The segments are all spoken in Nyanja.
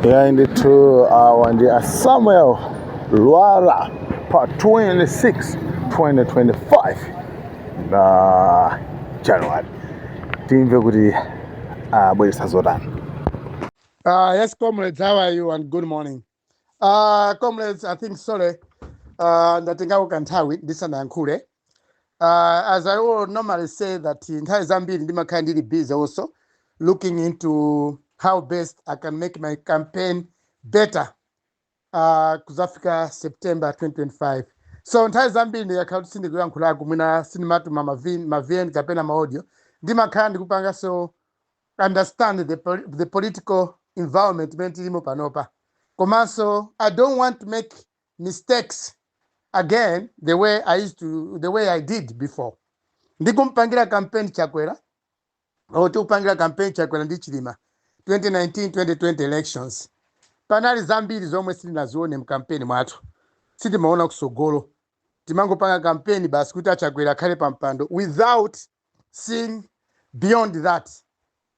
yayi ndithu awa ndi a samuel lwara pa 26 2025 na january timve kuti abweresa zotani Uh, yes, comrades, how are you? And good morning. Uh, comrades, I think, sorry, uh, ndatengako kanthawi ndisanayankhule Uh, as I will normally say that nthawi zambiri ndimakhala ndili busy also looking into how best I can make my campaign better uh, kuzafika September 2025 so nthawi zambiri ndikakhala kuti sindikuyankhulako mwina sindimatuma mavi- mavn kapena maaudio ndimakhala ndikupangaso understand the, poli- the political environment imene tilimo panopa komanso i don't want to make mistakes again the way I used to the way I did before ndikumpangira campaign chakwera or tikupangira campaign chakwera ndi chilima 2019 2020 elections panali zambiri zomwe sitinazione mkampeni mwathu sitimaona kusogolo timangopanga kampeni basi kuti achakwera akhale pa mpando without seeing beyond that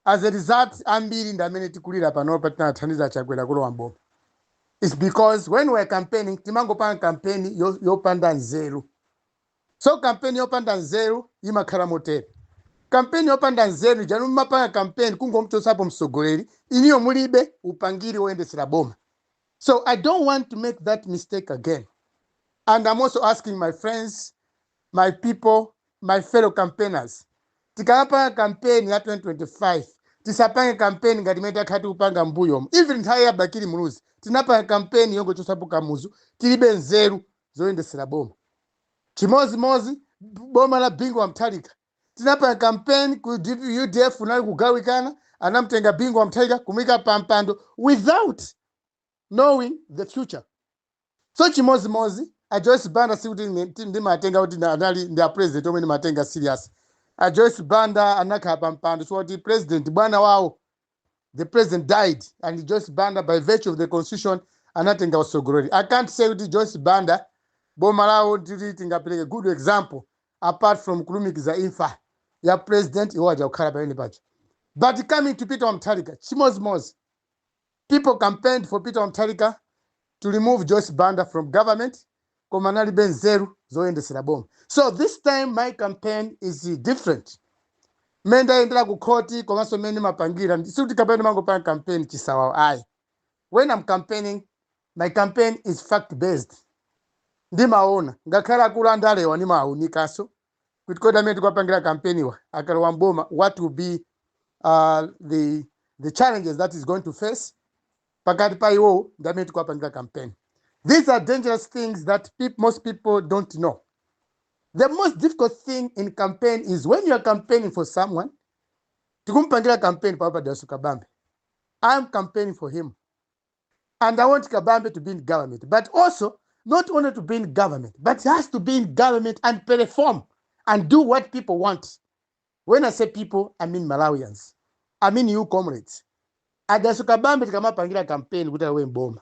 as a result ambiri ndi amene tikulira panopa tinathandiza achakwera kulowa mboma its because when we're campaigning timangopanga kampeni yo- yopanda nzeru so kampeni yopanda nzeru imakhala motere kampeni yopanda nzeru ija inu mumapanga kampeni kungomchotsapo mtsogoleri inuyo mulibe upangiri woyendetsera boma so i don't want to make that mistake again and i'm also asking my friends My people, my fellow campaigners, tikamapanga kampeni ya 2025 tisapange kampeni ngati imene takhala tikupanga m'mbuyomo. Even nthawi ya Bakili Muluzi tinapanga kampeni yongochotsapo Kamuzu, tilibe nzeru zoyendetsera boma. Chimodzimodzi boma la Bingu wa Mutharika tinapanga kampeni ku UDF unali kugawikana, anamtenga Bingu wa Mutharika kumuyika pampando without knowing the future so chimodzimodzi a joyce banda sikuti ine ti- ndimatenga kuti na- anali ndi president omwe ndimatenga serious a joyce banda anakhala pa mpando chifukwa kuti president bwana wawo the president died and joyce banda by virtue of the constitution anatenga utsogoleli i can't say kuti joyce banda boma lawo tili tingapereke good example apart from kulumikiza imfa ya president iwo aja kukhala pamene pajapo but coming to peter wamthalika chimodzimodzi People campaigned for Peter Wa Mutharika to remove Joyce Banda from government koma analibe nzeru zoyendesera boma. So this time my campaign is different. Mmene ndayendera ku khoti komanso mmene ndimapangira sikuti kapena ndimangopanga campaign chisawawa ayi. When I'm campaigning my campaign is fact based. Ndimaona ngakhale akulu andalewa ndimawawunikanso kuti kodi amene tikuwapangira kampeniwa akalowa mboma what will be uh, the, the challenges that is going to face pakati pa iwowo ndi amene tikuwapangira kampeni these are dangerous things that peop most people don't know the most difficult thing in campaign is when you are campaigning for someone tikumpangira campaign panopa dalitso kabambe i am campaigning for him and i want kabambe to be in government but also not only to be in government but he has to be in government and perform and do what people want when i say people i mean malawians i mean you comrades adaso kabambe tikamapangira kampeni kuti awe mboma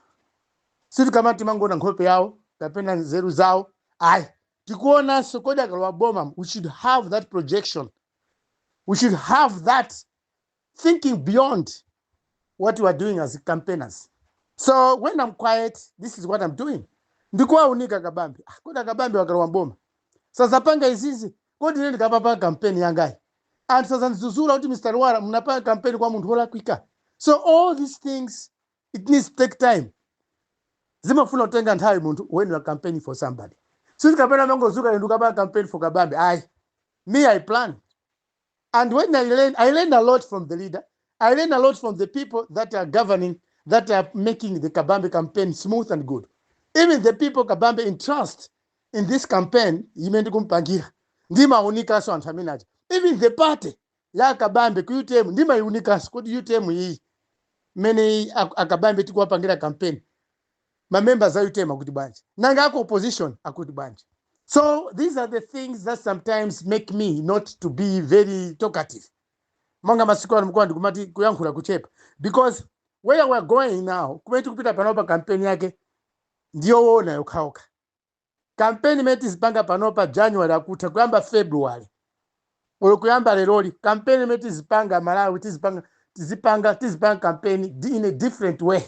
sitikamati timangoona nkhope yawo kapena nzeru zawo ayi tikuonanso kodi akalowa boma we should have that projection we should have that thinking beyond what you are doing as campaigners. So when I'm quiet, this is what I'm doing. Ndikuwaunika Kabambe. Ah, Kodi Kabambewa akalowa mboma. Sazapanga izizi. Kodi ine ndikapanga kampeni yangayi? Anthu sazanzuzula kuti Mr. Lwara mnapanga kampeni kwa munthu wolakwika. So all these things it needs to take time. Zimafuna kutenga nthawi munthu when you are campaigning for somebody. Sisi kapena mangozuka ndikapanga campaign for Kabambe. Ayi. Me I plan. and when I learn, I learn a lot from the leader. I learn a lot from the people that are governing, that are making the Kabambe campaign smooth and good. Even the people Kabambe entrust in this campaign, imendi kumpangira. Ndima unikaso anthu amene aja. Even the party ya Kabambe ku UTM ndima unikaso kuti UTM iyi mene akabambe tikuwapangira campaign ma members a utm akuti bwanji nanga aku opposition akuti bwanji so these are the things that sometimes make me not to be very talkative monga masiku ano mukuona ndikumati kuyankhula kuchepa because where we are going now kumene tikupita panopa kampeni yake ndiyoona yokhaokha Kampeni imene tizipanga panopa January akutha kuyamba February olo kuyamba leroli kampeni imene tizipanga aMalawi tizipanga tizipanga tizipanga kampeni in a different way.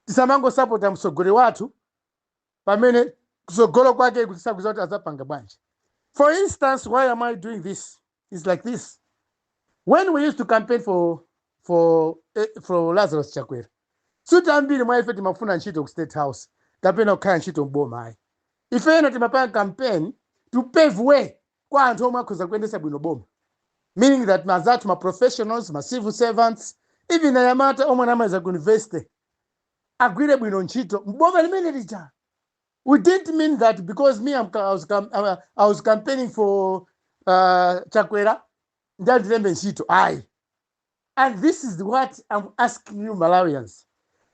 Tisamangosapota mtsogoleri wathu pamene kutsogolo kwake tisakuziwa kuti azapanga bwanji. For instance, why am I doing this? is like this. When we used to campaign for for eh, for Lazarus Chakwera, sikuti ambiri mwa ife timafuna ntchito ku State House kapena kukhala ntchito m'boma ayi. Ife ena timapanga campaign to pave way kwa anthu omwe akhoza kuyendetsa bwino boma. Meaning that anzathu ma professionals, ma civil servants, even anyamata omwe anamaliza ku university agwire bwino ntchito m'boma limene lija. we didn't mean that because me I'm, I, was, cam- uh, I was campaigning for uh, chakwera nde andilembe ntchito ayi and this is what i'm asking you malawians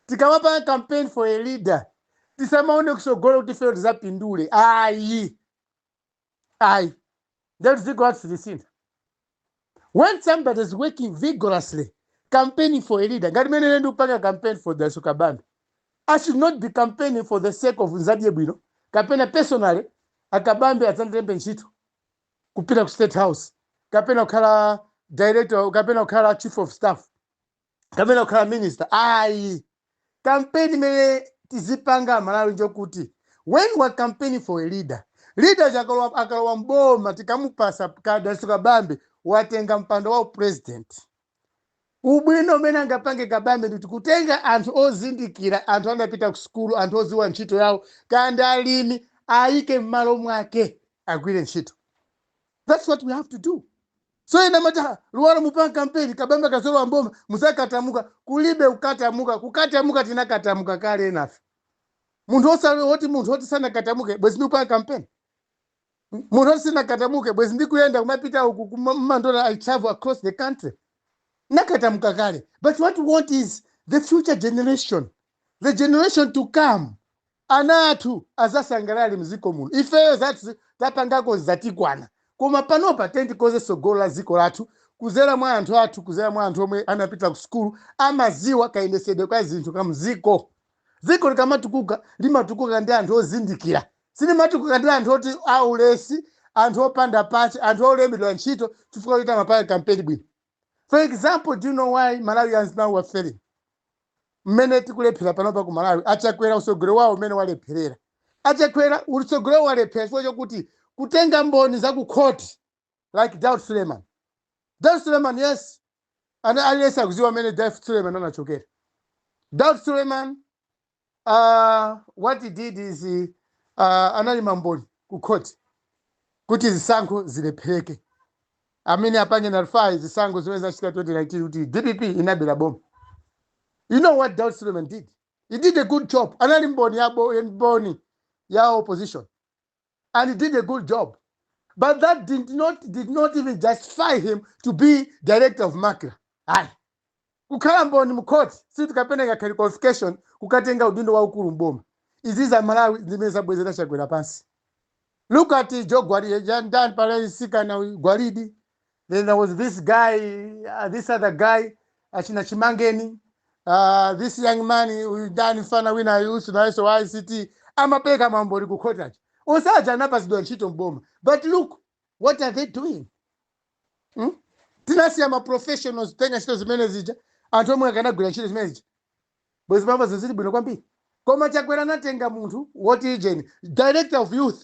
tikamapanga campaign for a leader tisamaone kusogolo kuti ifeyo tizapindule ayi ayi nde dziko lathu silisintha when somebody is working vigorously campaigning for a leader ngati mmene ine ndikupanga campaign for dalitso kabambe i should not be campaigning for the sake of nzadye bwino kapena personally a kabambe adzandilembe ntchito kupita ku state house kapena kukhala director kapena kukhala chief of staff kapena kukhala minister ayi kampeni imene tizipanga amalawi njokuti when we are campaigning for a leader leader uja akalowa- akalowa mboma tikamupasa kaya dalitso kabambe watenga mpando wa upresident ubwino umene angapange kabambe ndikuti kutenga anthu ozindikira anthu anapita ku sukulu anthu oziwa ntchito yawo kaya ndi alimi ayike m'malo mwake agwire ntchito that's what we have to do so ena amati "Ah, Lwara mupanga kampeni kabambe akazalowa mboma muzakatamuka kulibe kukatamuka kukatamuka tinakatamuka kale enafe munthu osati woti munthu woti sanakatamuke bwezi ndikupanga kampeni munthu woti sinakatamuke bwezi ndikuyenda kumapita uku kuma- mmandola i travel across the country ndinakatamuka kale but what we want is the future generation the generation to come Ana athu azasangalale mziko muno ifeyo zathu zapangako zatikwana koma panopa tiyen tikoze sogolo la ziko lathu kuzera mwa anthu athu kuzera mwa anthu omwe anapita ku sukulu amaziwa kayendesedwe ka zinthu ka mziko ziko likamatukuka limatukuka ndi anthu ozindikira silimatukuka ndi anthu oti a ulesi anthu opanda pache anthu olembedwa ntchito chifukwa choti amapanga kampeni bwino. for example do you know why malawians now we are failing mmene tikulephera panopa ku malawi achakwera utsogolero wawo mmene walepherera achakwera utsogolero wawo walephera chifukwa chokuti kutenga mboni za ku khoti like daud suleiman daud suleiman yes and aliyense akuziwa mmene daud suleiman anachokera daud suleiman uh, what he did is uh, anali mboni ku court kuti zisankho zilephereke I mean apange nullify zisankho zimene zinachitika 2019 kuti dpp inabera boma you know what Daud Suleiman did he did a good job anali mboni ya bo- mboni ya opposition and he did a good job. But that did not even justify him to be director of Macra. Ayi. Kukhala mboni mu court si tikapena ngakhale qualification kukatenga udindo waukulu mboma. Izi ndi za Malawi zimene zabwezera chakwera pansi. Look at Joe Gwalidi, Jan Dan Palais Sikana Gwalidi. then there was this guy uh, this other guy achina chimangeni uh, this young man uyu ndani mfana wina wake uja nayeso wa ict amapereka maumboni kukhoti onse aja anapatsidwa ntchito mboma but look what are they doing hmm? tinasiya maprofessionals kutenga ntchito zimene zija anthu omwe akanagwira ntchito zimene zija bwezi pano zinthu zili bwino kwambiri koma chakwera anatenga munthu woti ijeni director of youth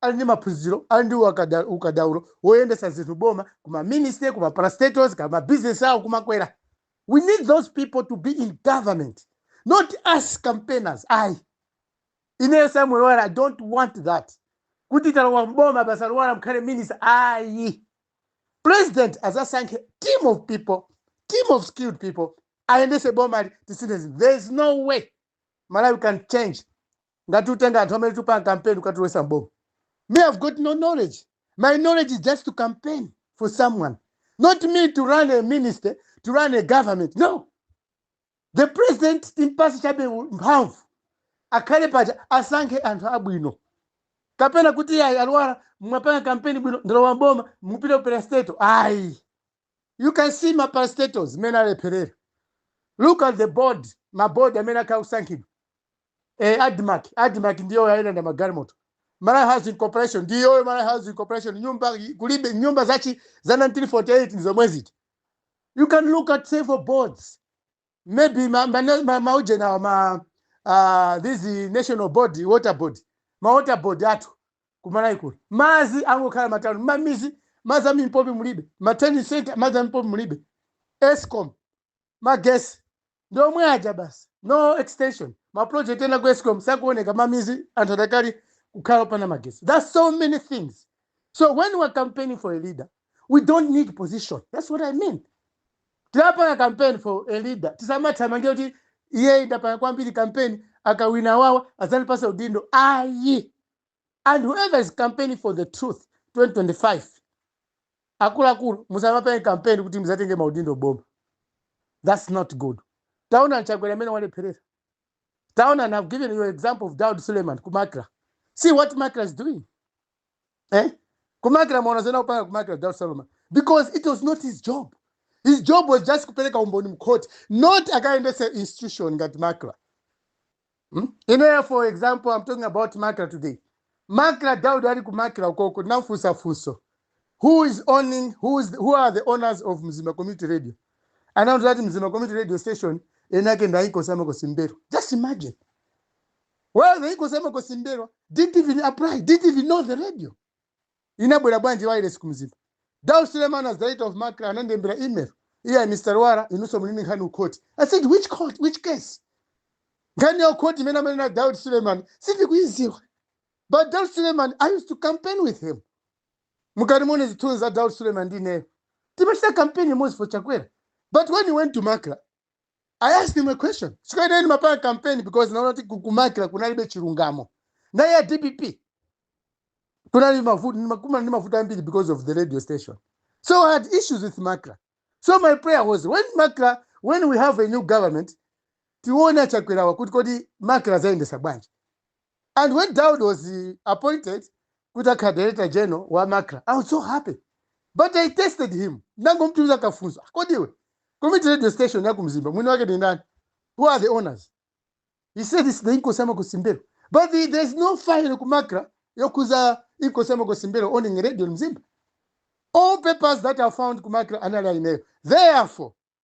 ali ndi maphunziro ali ndi wakada- ukadaulo woyendetsa zinthu mboma kuma ministry kuma parastatals kuma business awo kumakwera we need those people to be in government not us campaigners ayi ineyo samuel lwara i don't want that kuti talowa mboma basi a lwara mukhale minister ayi president azasankhe team of people team of skilled people ayendese bomali tisinthe zinthu there is no way malawi can change ngati utenga anthu amene tikupanga campaign kukatulowesa m'boma me I've got no knowledge my knowledge is just to campaign for someone not me to run a ministry to run a government no the president timpasi chabe mphamvu akhale paja asankhe anthu abwino kapena kuti yayi a Lwara mwapanga kampeni bwino ndalowa mboma mupite ku parastato ayi you can see ma parastatos mmene alepherera look at the board ma board amene akhala akusankhidwa eh, admarc admarc ndiyo yalanda magalimoto malawi housing corporation ndiyoyo malawi housing corporation nyumba kulibe nyumba zachi za 1948 nzomwe zili you can look at several boards maybe ma, ma, ma, maujeni awa ma uh, this national body water board ma water board athu kumalawi kuno mazi angokhala m'matauni mamizi mazi amimpopi mulibe ma trading center mazi amimpopi mulibe escom magesi ndi omwe aja basi no extension ma project ena ku escom sakuoneka mamizi anthu adakali kukhala opanda magesi there's so many things so when we're campaigning for a leader we don't need position that's what i mean tikapanga campaign for a leader tisamathamange kuti ine ndapanga kwambiri campaign akawina wawa adzandipasa udindo ayi and whoever is campaigning for the truth 2025 akuluakulu musamapange campaign kuti muzatenge maudindo m'boma that's not good taona chakwera mmene walepherera taona and i've given you an example of daud suleiman ku macra see what macra is doing eh? ku macra mwaona zimene akupanga ku macra daud suleiman because it was not his job his job was just kupereka umboni mkhoti not akayendese institution ngati macra Hmm? Ineyo for example, I'm talking about Macra today. Macra Daud ali ku Macra ukoko nafunsa funso. Who is owning who is who are the owners of Mzima Community Radio? Anauza that Mzima Community Radio station enake ndaiko sama ko Simbero. Just imagine. Well, ndaiko sama ko Simbero didn't even apply, didn't even know the radio. Inabwera ya wireless ku Mzimba? Daud Suleman as director of macra anandilembera email, iyayi Mr. Lwara inunso muli ndi nkhani ku court. I said which court, which case? Nkhani ya ku court imene amanena Daud Suleman sindikuidziwa. But Daud Suleman, I used to campaign with him. Mukati muone zithunzi za Daud Suleman ndi ineyo. Timachita campaign limodzi for Chakwera. But when he went to macra, i asked him a question chifukwa ine ndimapanga campaign because naona kuti ku- ku macra kunalibe chilungamo nthawi ya dpp kunali mavuto ndimakumana ndi mavuto ambiri because of the radio station so i had issues with macra so my prayer was when macra when we have a new government tione achakwerawa kuti kodi macra azayendesa bwanji And when Daud was appointed kuti akhale director general wa Macra, I was so happy. But I tested him. Ndinangomutumizira kafunso. "Ah, Kodi iwe, community radio station ya ku Mzimba, mwini wake ndi ndani? Who are the owners? He said it's the Inkosi ya Makhosi M'mbelwa. But the, there's no file ku Macra yokhuza Inkosi ya Makhosi M'mbelwa owning radio in Mzimba. All papers that are found ku Macra anali a ineyo. Therefore,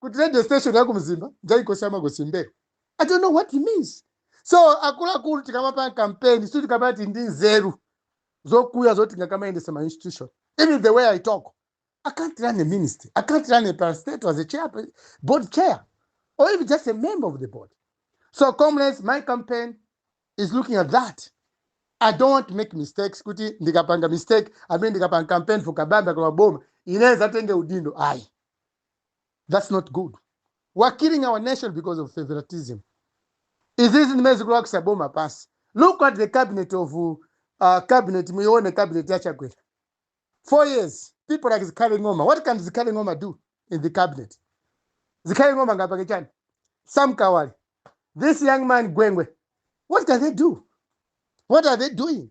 kuti radio station ya ku mzimba ya inkosi ya makosi m'mbelwa i don't know what it means so akuluakulu tikamapanga kampeni si tikamati ndi nzeru zokuya zoti ndingakamayendese ma institution even the way i talk i can't run a ministry i can't run a parastatal as a chair, board chair or even just a member of the board so comrades my campaign is looking at that i don't want to make mistakes kuti ndikapanga mistake i mean ndikapanga campaign for kabambe akalowa boma inenso ndikatenge udindo ayi thats not good we are killing our nation because of favoritism izizi ndi zimene zikugwesa boma pansi look at the cabinet of uh, cabinet muyione cabinet ya chakwera four years people like zikhale ng'oma what can zikhale ng'oma do in the cabinet zikhale ng'oma angapange chani sam kawale this young man gwengwe what can they do what are they doing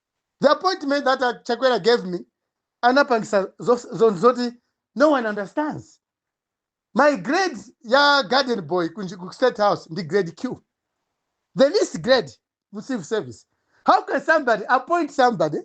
the appointment that uh, chakwera gave me anapangisa zos- zon- zoti no one understands my grade ya garden boy ku nji- ku state house ndi grade q the least grade mu civil service how can somebody appoint somebody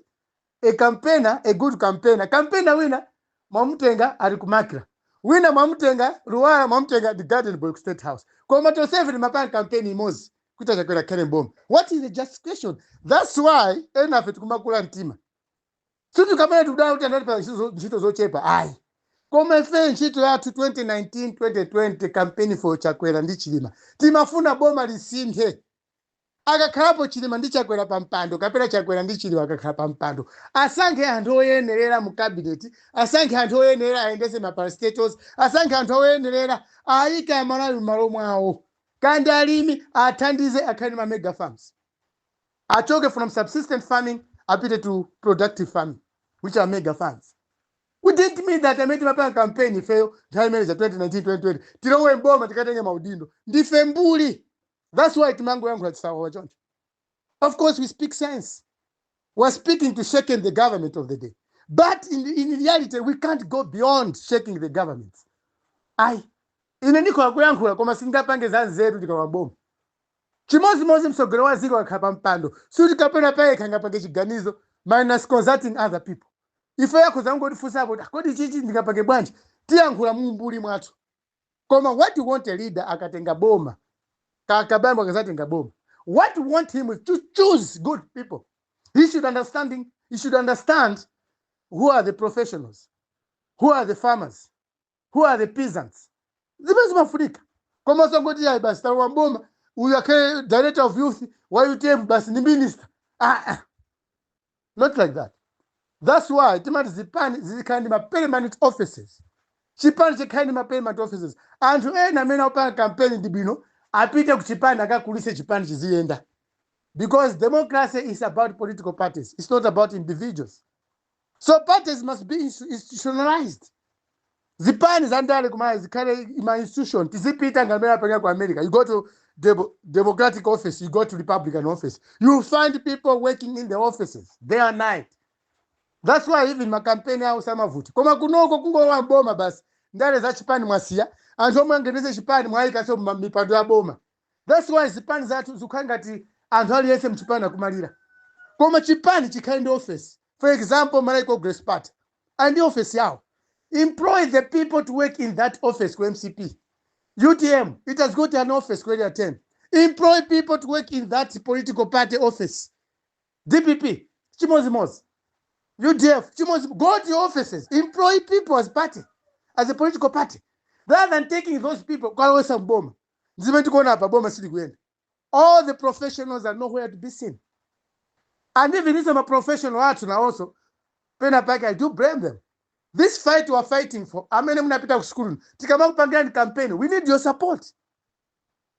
a campaigner a good campaigner campaigner wina mwamutenga ali kumakira wina mwamutenga luwala mwamutenga ngati garden boy ku state house koma tonsefe timapanga campaign imodzi kuti achakwera akhale mboma what is the justification thats why enafe tikumakhululuka mtima sikuti kapena tikudandaula kuti anatipasa ntchito- ntchito zochepa ayi koma ife ntchito yathu 2019 2020 campaign for chakwera ndi chilima timafuna boma lisinthe akakhalapo chilima ndi chakwera pa mpando kapena chakwera ndi chilima akakhala pa mpando asankhe anthu oyenerera mu kabineti asankhe anthu oyenerera ayendese ma parastatals asankhe anthu oyenerera ayike amalawi m'malo mwawo Kaya ndi alimi athandize akhale ndi ma mega farms achoke from subsistent farming apite to productive farming which are mega farms. We didn't mean that amene timapanga campaign ifeyo nthawi imene ija 2019 2020 tilowe mboma tikatenge maudindo ndife mbuli that's why timangoyankhula chisawawa choncho. Of course, we speak sense. We're speaking to shaking the government of the day. But in, in reality, we can't go beyond shaking the government. Ayi, ine ndikhoza kuyankhula koma sindingapange za nzeru tikalowa boma. Chimodzimodzi mtsogoleri wa dziko akakhala pa mpando, sikuti kapena payekha angapange chiganizo minus consulting other people. Ife akhoza kungotifunsa kuti kodi chichi ndingapange bwanji? Tiyankhula mu umbuli mwathu. koma what you want a leader akatenga boma ka- kabambo akazatenga boma what you want him is to choose good people he should understanding he should understand who are the professionals who are the farmers who are the peasants zimene zimafunika koma sangoti ayi basi talowa mboma uyu akhale director of youth wa utm basi ndi minister ah, ah. not like that thats why timati zipani zizikhale ndi ma permanent offices chipani chikhale ndi ma permanent offices anthu ena amene akupanga kampeni ndi bwino apite ku chipani akakulise chipani chiziyenda because democracy is about political parties it's not about individuals so parties must be institutionalized zipani za ndale zimayenera zikhale ma institution tizipita ngati mmene apangira ku america you go to Demo- democratic office you go to republican office you find people working in the offices day and night that's why even makampeni awo samavuti koma kunoko kungolowa mboma basi ndale za chipani mwasiya anthu omwe angayendetse chipani mwayikaso mipando ya boma That's why zipani zathu zikukhala ngati anthu aliyense mchipani akumalira. Koma chipani chikhale ndi office. For example, Malawi Congress Party ali ndi office yawo. Employ the people to work in that office ku mcp. UTM, it has got an office ku area 10. Employ people to work in that political party office. DPP, chimodzimodzi. UDF, chimozimozi, go to your offices, employ people as party, as a political party, rather than taking those people kwalowesa mboma. Ndizimene tikuona apa boma silikuyenda. All the professionals are nowhere to be seen. And even inu ma professional athu nawonso pena pake I do blame them. This fight we are fighting for amene munapita ku school tikamakupangirani campaign we need your support.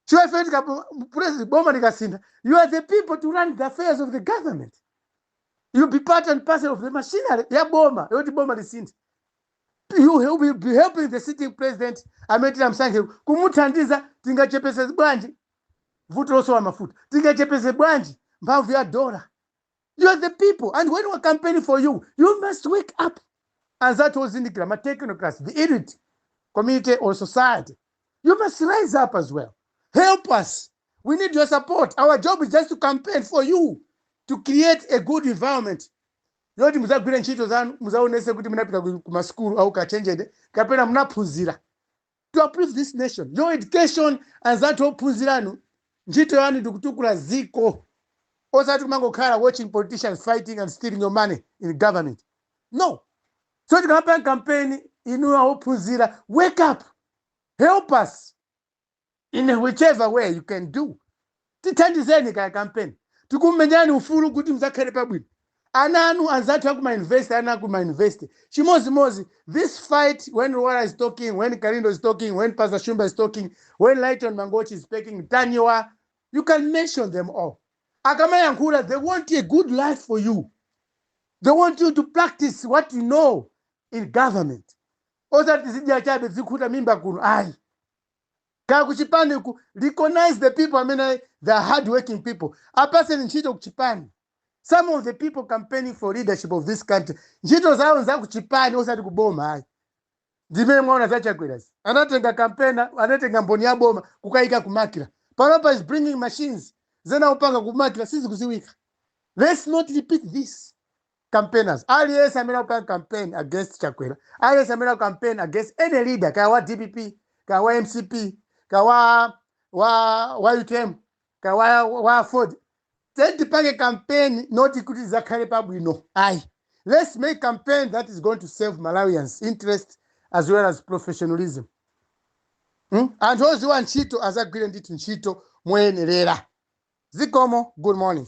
Chifukwa ife tikasintha president boma likasintha you are the people to run the affairs of the government. You be part and parcel of the machinery ya boma yoti boma lisinthe. you help, you be helping the sitting president amene tinamsankhe kumuthandiza tingachepese bwanji vuto losowa mafuta tingachepese bwanji mphamvu ya dola you are the people and when we campaign for you you must wake up anzathu ozindikira ma technocrats the elite community or society you must rise up as well help us we need your support our job is just to campaign for you to create a good environment yoti muzagwire ntchito zanu muzaonese kuti munapita ku masukulu aukachenjede kapena munaphunzira to uplift this nation your education anzathu ophunziranu ntchito yanu ndikutukula ziko osati kumangokhala watching politicians fighting and stealing your money in government no so tikamapanga kampeni inu ophunzira wake up help us in whichever way you can do tithandizeni kaya kampeni tikumenyani ufulu kuti mudzakhale pabwino ananu anzathu akumayunivesiti ana akumayunivesiti chimodzimodzi this fight when Lwara is talking when kalindo is talking when pastor shumba is talking when lighton mangochi is speaking Ntanyiwa you can mention them all akamayankhula they want a good life for you they want you to practice what you know in government osati zidya chabe zikhuta mimba kuno ayi kaya kuchipani recognize the people amene they are hard working people apaseni ntchito kuchipani some of the people campaigning for leadership of this country ntchito zawo nza kuchipani osati kuboma ayi zimene mwaona za Chakwerazi anatenga campaigner anatenga mboni ya boma kukayika kumakira panopa he's bringing machines zimene akupanga kumakira sizikuziwika let's not repeat this campaigners aliyense amene akupanga campaign against chakwera aliyense amene akupanga campaign against any leader kaya wa dpp kaya wa mcp kaya wa utm kaya wa aford then tipange campaign not kuti tizakhale pabwino ayi let's make campaign that is going to serve malawians interest as well as professionalism hmm? anthu oziwa ntchito azagwire ndithu ntchito moyenerera zikomo good morning